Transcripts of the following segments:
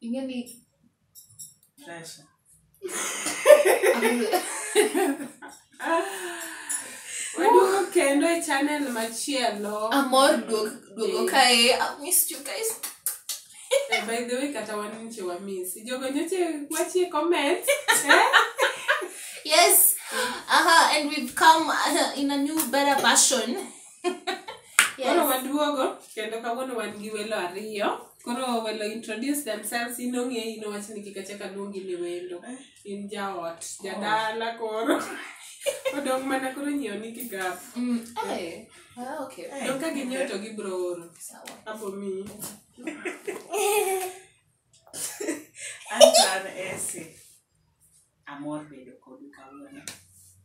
Ing'e ni Pressure. Waduogo kendo e channel machielo. amor duog duogo Yeah. kae I missed you guys Eh, By the way, kata wan nche wamisi. Jogo nyoche wachie comment. Eh? yes aha and we've come uh, in a new better version Yes. Koro waduogo kendo kawuono wan gi welo ariyo. Koro welo introduce themselves in ong'e in wach ni kik achak aluongi ni wendo. In jaot, jadala koro. Odong' mana koro nyiewo ni kigap. Mm, eh. Ah, okay. Dong' ka ginyiewo to gibro oro. Sawa. Abo miyi. Anto an Esi. Amor bedo kodu kawuono.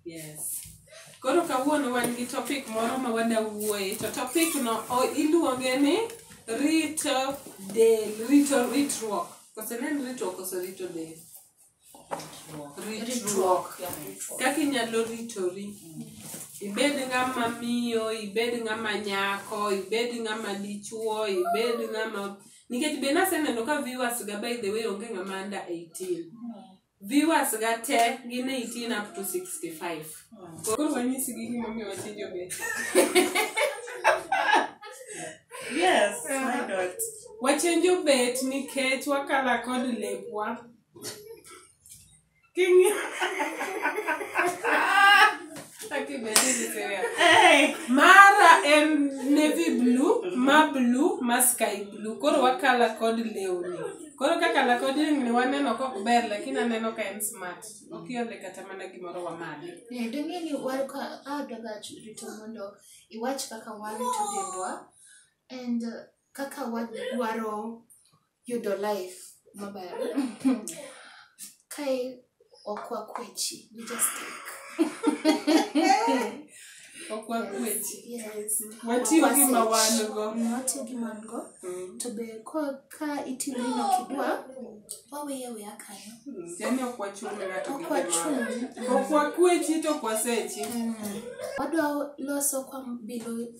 Yes. Koro kawuono wan gi topic moro ma wada wuoye to topic no o- iluonge ni rito del, rito ritruok. Kose ne en ritruok kose rito del. Ritruok. Kaka inyalo ritori. Ibed ng'ama miyo, ibed ng'ama nyako, ibed ng'ama dichuo, ibed ng'ama nikech be naseneno ka viewers ga by the way onge ng'ama anda 18 viewers ga te gin 18 up to 65 koro wanyisi gi gimomiyo watinjo be yes my god wachenjo bet nikech wakala kod lepwa King. Aki be this is serious. Hey. Mara en navy blue, ma blue, ma sky blue. Koro wakala kod lewni. Koro kaka lakod lewni waneno kok ber lakini aneno ka en smart. Okiole kata mana gimoro wamadhi. Eh, dong'e ni wan ka adoga rito mondo iwach kaka warito dendwa and uh, kaka wadwaro yudo life maber kae ok wakwechi we just take ok wakwechi yes watiyo gi ma wan go watiyo gi man go Mm. to be ka ka itimo gino kidwa waweya weya kanyo yani ok wachung' ne ng'ato gi ok wachung' gimoro. ok wakwechi to ok wasechi wadwa loso kwa bilo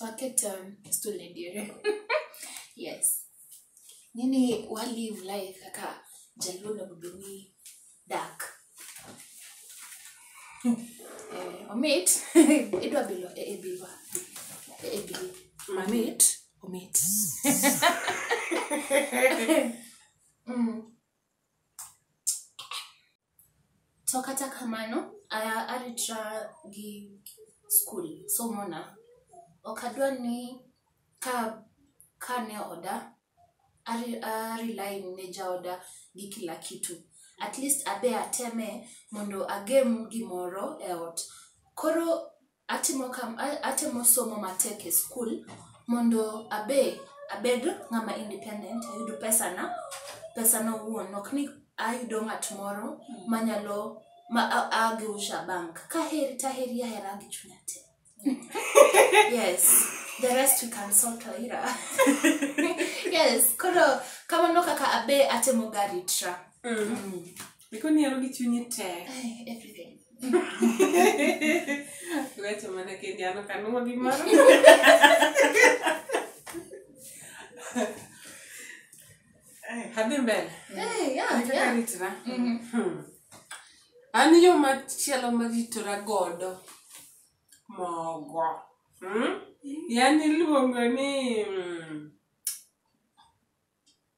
waketon stulediere yes nini wa live life kaka jaluo onego bed ni dak Eh, omit idwa bilo e e bilwa e e bilo mamit omit Mm. to kata kamano a- aritra gi skul somona ok adwa ni ka ka ne oda ari- arely ne jaoda gi kila kitu at least abe ateme mondo agem gimoro e ot koro Atimo kam, a- atemo somo matek e skul mondo abe abed ng'ama independent, ayud pesana, pesana owuon, ok ni ayudo ng'at moro manyalo ma a- ageusha bank. Kaheri taheri ahera gi chunya te. yes, the rest we can sort later. yes, koro kamano kaka abe atemo garitra. Mm. Iko niero gi chunyi te. Everything. Weche mana kendi an ok anuma gimoro. Adhi mbele. Hey, yeah, Kaka yeah. ritora. Mhm. Hmm. An yo machielo maritora godo mogo. Hmm? Yani iluongo ni mm,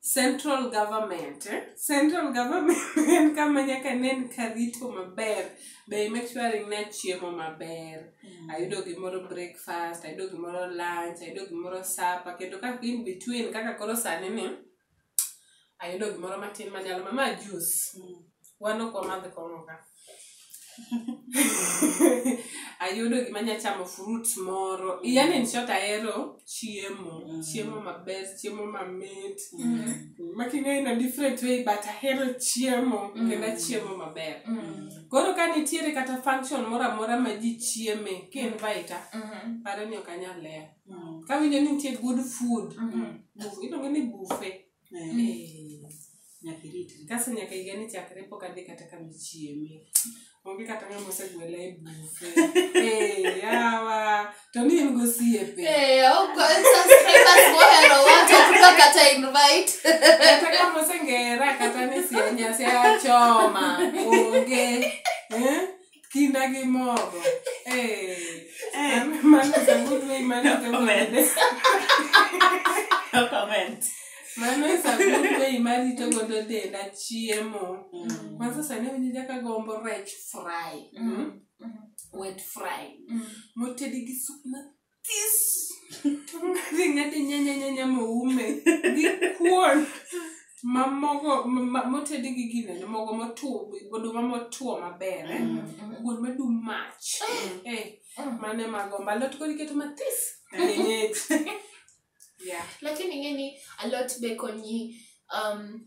Central government, eh? Central government en kama nyaka nen karito maber. Be make sure ni achiemo maber. Ayudo gimoro breakfast, ayudo gimoro lunch, ayudo gimoro supper, kendo kaka in between kaka koro sani ni ayudo gimoro matin manyalo mama juice. Wan ok wamadh kong'o ka. ayudo gima nya chamo fruit moro yani in short ahero chiemo Mm. chiemo maber chiemo mamit Mm. making'eyo in a different way but ahero chiemo Mm. kendo achiemo maber Mm. koro ka nitiere kata function moro amora ma ji chieme ki invita Mhm. paro ni ok anyal lewo Mm. kawinjo ni nitie good food Mhm. buf- iluonge ni bufe Eh, nyaka iritre kaso nyaka higa ni chakre pok adhi kata kama ichieme onge kata ng'ama osegwela e bufe Eh, yawa to ni en gosiepe Eh, huko subscribers mohero watu hatuko kata invite. kata kama osengera kata ni sianyasi achoma onge Eh? kinda gi mogo Eh, Eh. I'm- man is a good way man is a good way. No comment. mano is a good way marito godo denda chiemo Mm. kwanza sani winjo jaka gombo rech fry Mm. mm? wet fry Mm. motedi gi sup This. Kadhi ng'ati nyanya nyanya moume gi kuon ma mogo ma- ma- motedi gi ginene mogo motuo goduma motuo maber eh? kuon madum mach eh, mane mago mbalot koro iketo mathis kienyeji yeah. lakini ing'eni alot be konyi um,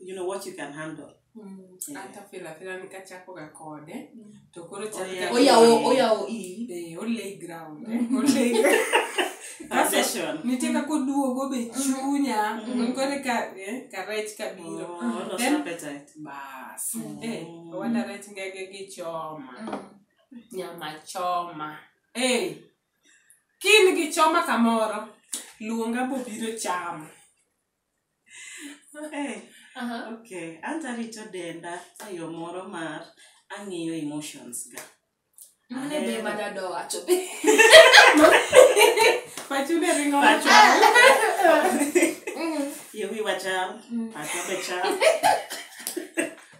you know what you can handle atafilafila nikachakoga kode to koro Oya. oyawo oyawo i chakde olay ground eh, olay Foundation. nitie kaka oduogo be chunya Mhm. kore ka eh, ka rech kabiro Oh, what was Then- appetite? bas Mm. eh, owada rech ngege gi choma nyama choma eh, kin gi choma kamoro luonga bobiro chamo Eh, Aha. okay. Anto arito denda e yo moro mar ang'iyo emotions ga. Mano e be mana do wacho. Pachu ne ringo Pachu. Mm. Yewi wachal, Mm. pacho be chal.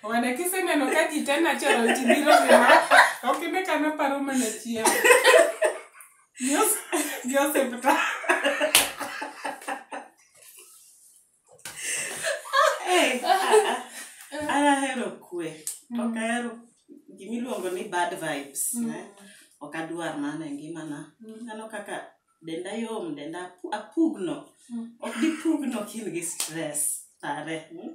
Wana kiseneno ka ji te natural ti biro gima. Ok ine ka naparo mana chiemo. Gi osiptal. Eh, ah, ah. An ahero kwe. To ok ahero gima iluongo ni bad vibes. eh. Ok adwar mano e ngimana. Aneno kaka denda yom, denda apu- apugno. Ok dipugno ka in gi stress. Pare. mm?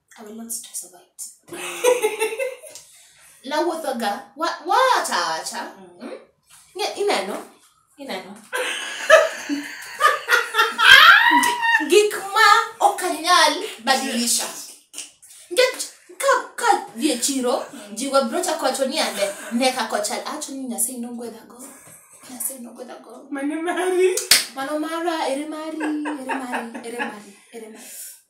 I will not stress over it. Nawuothoga. Wa- Wacha wacha. Mm. Nge- Ineno. Ineno. Gik ma ok anyal badilisha. Nikech ka ka dhi e chiro ji wabrocha kocho ni ande ne ka kochal acho ni Nyasaye nogwedhago. Nyasaye nogwedhago. Mane mari. Mano mara ere mari ere mari ere mari ere mari.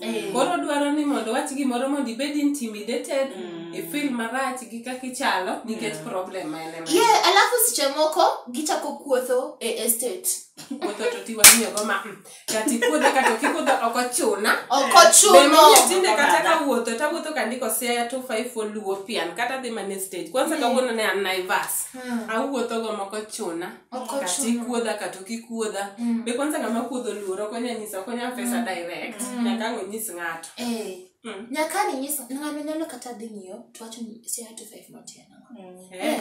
Eh. koro dwaro ni mondo wach gimoro mondo ibed intimidated Mm. ifil marach gi kaka ichalo nikech Yeah. problem ma en ema ye alafu seche moko gichako kuotho e estate wuotho to tiwang'iyogo ma mm, kata ikuodha kata ok ikuodha ok ochuna ok ochuno Bende tinde kata Oganda. ka wuotho to awuotho ka ndiko siaya to five for luo pian kata dhi mane stage kwanza kawuono ne an naivas awuotho go moko chuna Oko kata chuno. ikuodha kata ok ikuodha Mm. be kwanza ng'ama kuodho luor ok onya nyisa ok onya pesa Mm. direct Mm. nyaka ang' onyis ng'ato Eh, Mm. nyaka ninyis ng'ano nyalo kata dhi ng'iyo to wacho ni si ato five not here nang'o. Mm. Eh.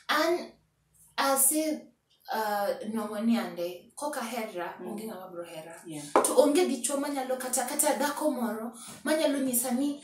an asi uh, nwang'o ni ande koka hera Mm. onge ng'ama bro hera Yeah. to onge dichwo manyalo kata kata dhako moro manyalo nyisa ni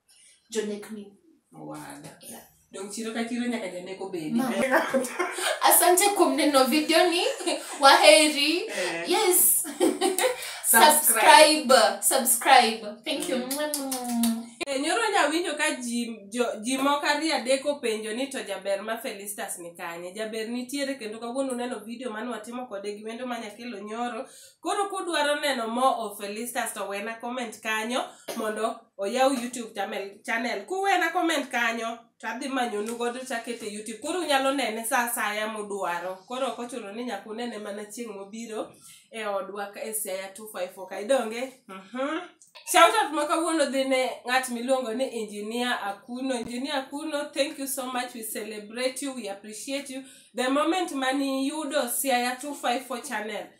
jonekni Owada. Yeah. Dong chiro ka chiro nyaka janeko bedi. Mama. asante kuom neno video ni waheri Eh. yes subscribe subscribe thank you Eh, Nyoro nyawinjo ka ji jo- ji moko ariyo adek openjo ni to jaber ma Felistas ni kanye. Jaber nitiere kendo kawuono uneno video mane watimo kode gi wendo ma nyakelo nyoro. koro kudwaro neno more of felistas to wena comment kanyo mondo oyaw youtube channel, channel. kuwena comment kanyo to adhi manyonu godo takete youtube koro unyalo nene sa asaya mudwaro koro ok ochuno ni nyaka unene mana chieng' mobiro e odwa ka- e siaya 254 ka idonge Mhm. Shout out ma kawuono dhi ne ng'at miluongo ni engineer Akuno. Engineer Akuno, thank you so much. We celebrate you, we appreciate you. The moment mani yudo Siaya 254 channel,